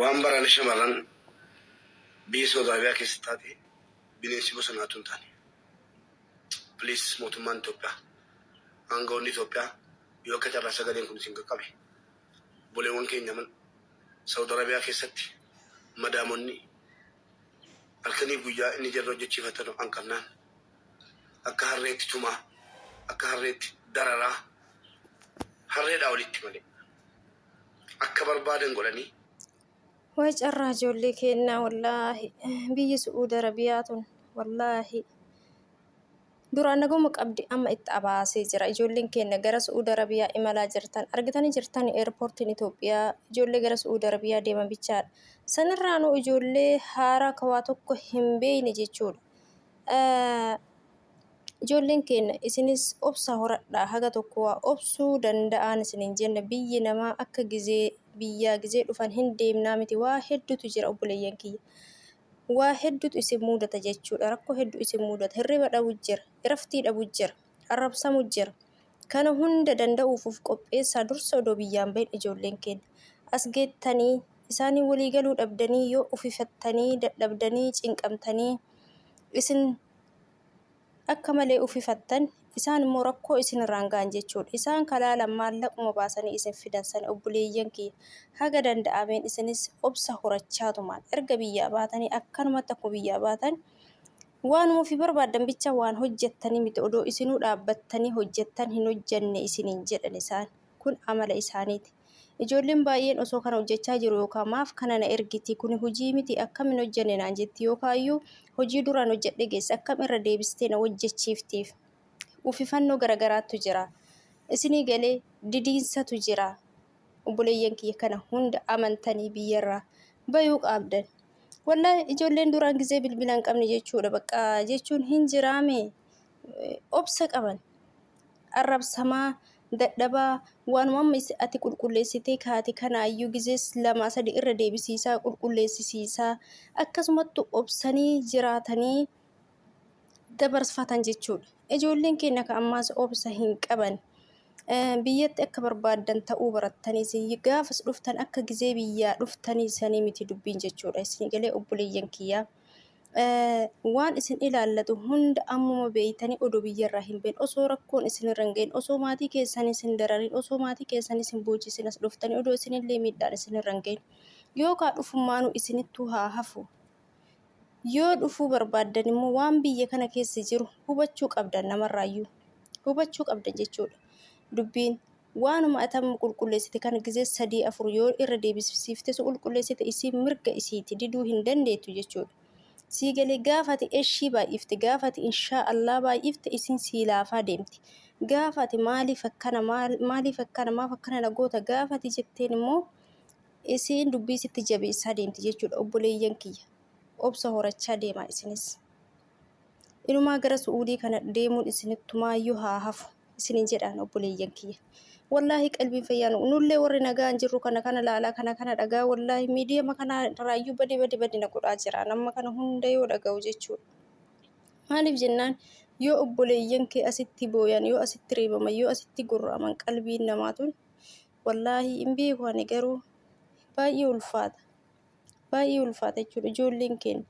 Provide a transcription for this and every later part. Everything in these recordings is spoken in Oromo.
Waan barana shamarran biyya Saudi Arabia keessa taate bineensi bosonaa utuu hin taane. Please mootummaan Itoophiyaa, aanga'oonni Itoophiyaa yoo akka carraa sagaleen kun isin qaqqabe obboleewwan keenya man Saudi Arabia keessatti madaamonni halkanii guyyaa inni jarri hojjechiifatan hanqannaan akka harreetti tumaa akka harreetti dararaa harreedhaa olitti malee. akka barbaadan godhanii. Way carraa ijoollee keennaa wallaahi biyyi su'uudi arabiyaa tun wallaahi duraan naguma qabdi amma itti abaasee jira ijoolleen keenna gara su'uudi arabiyaa imalaa jirtan argitanii jirtan eerpoortiin Itoophiyaa ijoollee gara su'uudi arabiyaa deeman bichaadha sanirraanuu ijoollee haaraa kawaa tokko hin beeyne jechuudha Ijoolleen keenya isinis obsa horadhaa haga tokko waa obsuu danda'aan isiniin jenna biyyi namaa akka gizee biyyaa gizee dhufan hin deemnaa miti waa hedduutu jira obboleeyyan kiyya waa hedduutu isin muudata jechuudha rakkoo hedduu isin muudata hirriba dhabu jira iraftii dhabu jira arrabsamu jira kana hunda danda'uufuuf qopheessaa dursa odoo biyyaan bahin ijoolleen keenya as geettanii isaanii walii galuu dhabdanii yoo ufifattanii dadhabdanii cinqamtanii isin akka malee ufifattan isaan immoo rakkoo isin irraan ga'an jechuudha. Isaan kalaalan maallaquma baasanii isin fidan sani obboleeyyan kiyya haga danda'ameen isinis obsa horachaa tumaan erga biyyaa baatanii akkanumatti akkuma biyyaa baatan waanuma ofii barbaaddan bicha waan hojjettanii miti odoo isinuu dhaabbattanii hojjettan hin hojjenne isiniin jedhan isaan kun amala isaaniiti. Ijoolleen baay'een osoo kana hojjechaa jiru yookaan maaf kana na ergiti kuni hojii miti akkam hin hojjenne naan jetti yookaan iyyuu hojii duraan hojjedhe geesse akkam irra deebistee na hojjechiiftiif uffifannoo garagaraattu jira. Isinii galee didiinsatu jira. Obboleeyyan kiyya kana hunda amantanii biyyarraa bayuu qaabdan. Wallahi ijoolleen duraan gizee bilbila hin qabne jechuudha. Bakka jechuun hin jiraame obsa qaban. arrabsamaa, dadhabaa, waanuma amma is- ati qulqulleessitee kaate kanaayyuu gizees lamaa sadi irra deebisiisaa, qulqulleessisiisaa, akkasumattu obsanii jiraatanii dabarsfatan jechuudha. Ijoolleen keenya ka ammaas obsa hin qaban. Eh, Biyyatti akka barbaaddan ta'uu barattaniis gaafas dhuftan akka gizee biyyaa dhuftanii sanii miti dubbiin jechuudha. Isin galee obboleeyyan kiyyaa. waan isin ilaallatu hunda ammuma beeytanii odoo biyyarraa hin been osoo rakkoon isinirra hin ga'in osoo maatii keessan isin dararin osoo maatii keessan isin boochisin as dhuftanii odoo isinillee miidhaan isinirra hin ga'in yookaan dhufummaanuu isinittuu haa hafu yoo dhufuu barbaaddan immoo waan biyya kana keessa jiru hubachuu qabdan namarraayyuu hubachuu qabdan jechuudha dubbiin Waanuma ati amma qulqulleessite kana gizee sadii afur yoo irra deebisiifte si qulqulleessite isii mirga isiiti diduu hin dandeettu jechuudha. Sii galee gaafa ati eshii baay'ifte gaafa ati inshaa allaa baay'ifte isiin sii laafaa deemti. Gaafa ati maaliif akkana maaliif akkana maaf akkana na goota gaafa ati jetteen immoo isiin dubbii sitti jabeessaa deemti jechuudha obboleeyyan kiyya. Obsa horachaa deemaa isinis. Inumaa gara su'uudii kana deemuun isinittumaayyuu haa hafu isiniin jedhaan obboleeyyan kiyya. Wallaahi qalbiin fayyaan nullee warri nagaan jirru kana kana laalaa kana kana dhagaa wallaahi miidiyama kana irraayyuu badi badi badi na godhaa jira nama kana hunda yoo dhaga'u jechuudha. Maaliif jennaan yoo obboleeyyan kee asitti booyan yoo asitti reebaman yoo asitti gurraaman qalbiin namaa tun wallaahi hin beeku ani garuu baay'ee ulfaata. baay'ee ulfaata jechuudha ijoolleen keenya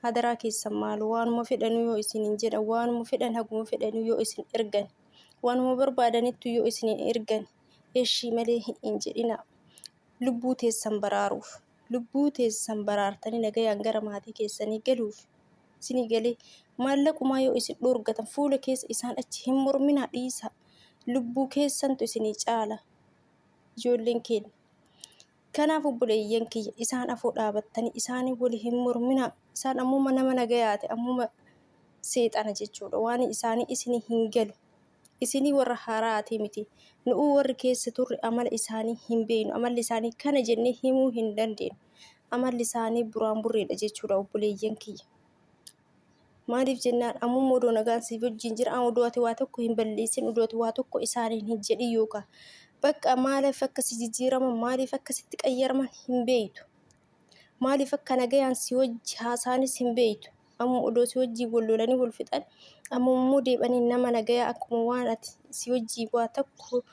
hadaraa keessan maal waanuma fedhanuu yoo isiniin jedhan waanuma fedhan haguma fedhanuu yoo isin ergan waanuma barbaadanittu yoo isiniin ergan eshii malee hin jedhina lubbuu teessan baraaruuf lubbuu teessan baraartanii nagayaan gara maatii keessanii galuuf isinii galee maallaqumaa yoo isin dhoorgatan fuula keessa isaan achi hin morminaa dhiisaa lubbuu keessantu isinii caala ijoolleen keenya. Kanaaf obboleeyyan kiyya isaan afoo dhaabattanii isaanii wali hin morminaa. Isaan ammuma nama nagayaati ammuma seexana jechuudha. Waan isaanii isinii hin galu. Isinii warra haaraatii miti. Nu'uu warri keessa turre amala isaanii hin beeynu. Amalli isaanii kana jennee himuu hin dandeenyu. Amalli isaanii buraan burreedha jechuudha obboleeyyan kiyya. Maaliif jennaan ammuma odoo nagaan siif wajjin jira odoo ati waa tokko hin balleessin odoo ati waa tokko isaaniin hin jedhin yookaan bakka maaliif akka si jijjiiraman maaliif akka sitti qayyaraman hin beektu. Maaliif akka nagayaan si wajji haasaanis hin beektu. Amma odoo si wajjin wal lolanii wal fixan amma immoo deebanii nama nagayaa akkuma waan ati si wajjin waa tokko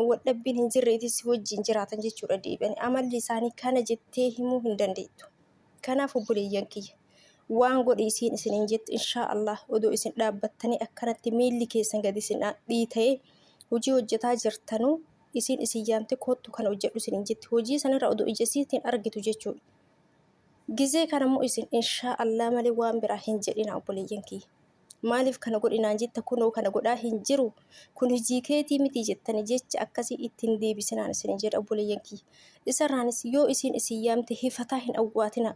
wadhabbiin hin jirreeti si wajjin jiraatan jechuudha deebanii. Amalli isaanii kana jettee himuu hin dandeettu. Kanaaf obboleeyyan kiyya. waan godhi isiin isiniin jettu inshaa Allah odoo isin dhaabbattanii akkanatti miilli keessan gadi isin dhiita'ee hojii hojjetaa jirtanuu isiin isin yaamte koottu kana hojjedhu isiniin jetti hojii sanirra odoo ija isiitiin argitu jechuudha. Gizee kanammoo isin inshaa Allah malee waan biraa hin jedhina obboleeyyan kiyya. Maaliif kana godhinaan jetta kunoo kana godhaa hin jiru kun hojii keetii miti jettani jecha akkasii ittiin deebisinaan isiniin jedha obboleeyyan kiyya. Isarraanis yoo isiin isin yaamte hifataa hin awwaatina.